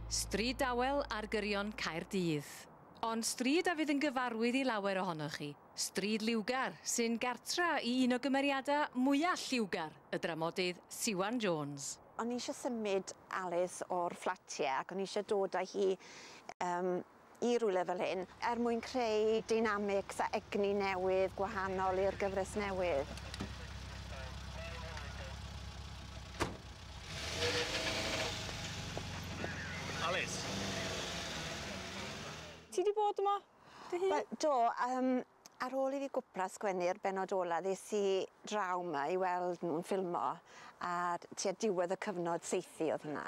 Stryd dawel ar gyrion Caerdydd. Ond stryd a fydd yn gyfarwydd i lawer ohonoch chi, Stryd Liwgar, sy'n gartra i un o gymeriadau mwyaf lliwgar y dramodydd Siwan Jones. O'n i eisiau symud Alys o'r fflat ie ac o'n i eisiau dod â hi yym i rywle fel hyn er mwyn creu deinamics a egni newydd gwahanol i'r gyfres newydd. Alys. Ti 'di bod yma dy hun? Wel do yym ar ôl i fi gwpla sgwennu'r bennod ola ddes i draw 'ma i weld nw'n ffilmo a tua diwedd y cyfnod saethu o'dd hwnna.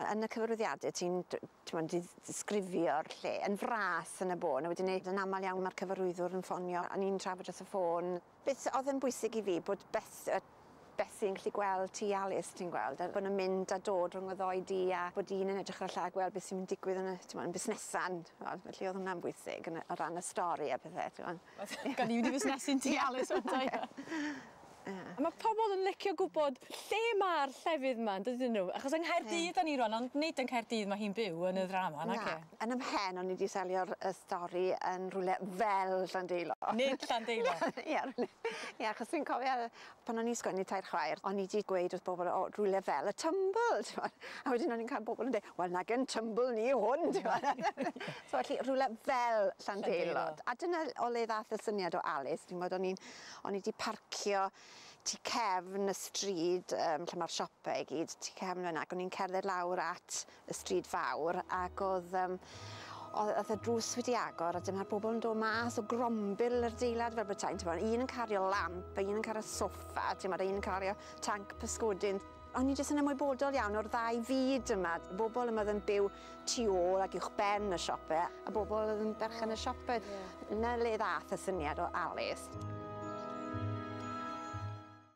Yn y cyfarwyddiade ti'n d- t'mod di- ddisgrifio'r lle yn fras yn y bôn a wedyn 'ny yn amal iawn ma'r cyfarwyddwr yn ffonio a ni'n trafod wrth y ffôn beth o'dd yn bwysig i fi bod Beth yy Betsi yn gallu gweld ti Alys ti'n gweld a bo' nw'n mynd a dod rhwng y ddou di a bod un yn edrych ar y llall gweld be' sy'n digwydd yn y t'mo' yn busnesa'n t'mod felly o'dd hwnna'n bwysig yn y o ran y stori a pethe t'mo'. Gawn ni mynd i fusnesu ti Alys ŵan 'te. A ma' pobol yn licio gwbod lle ma'r llefydd 'ma yndydyn nhw? Achos yng Nghaerdydd 'dan ni rŵan ond nid yn Caerdydd ma' hi'n byw yn y ddrama naci? Na. Yn 'y mhen o'n i 'di selio'r y stori yn rwle fel Llandeilo. Nid Llandeilo. Ie rwle ie achos fi'n cofio yy pan o'n i'n sgwennu Tair Chwaer o'n i 'di gweud wrth bobol o rwle fel y Tymbl t'mod a wedyn o'n i'n ca'l bobol yn deu' wel nag yn Tymbl ni yw hwn t'mod? So felly rhwle fel Llandeilo. Llandeilo. A dyna o le ddath y syniad o Alys t'mod o'n i'n O'n i 'di parcio tu cefn y stryd um, lle mae'r siopau i gyd, tu cefn yna, ac o'n i'n cerdded lawr at y stryd fawr, ac oedd, um, oedd y drws wedi agor, a dyma'r bobl yn dod mas o grombil yr deilad fel bethau, ti'n bod, un yn cario lamp, a un yn cario soffa, ti'n bod, un yn cario tanc pysgodyn. O'n i jyst yn ymwybodol iawn o'r ddau fyd yma, bobl yma oedd yn byw tu ôl ac uwchben y siope, a bobl oedd yn berchen y siope. 'Na le ddath y syniad o Alys.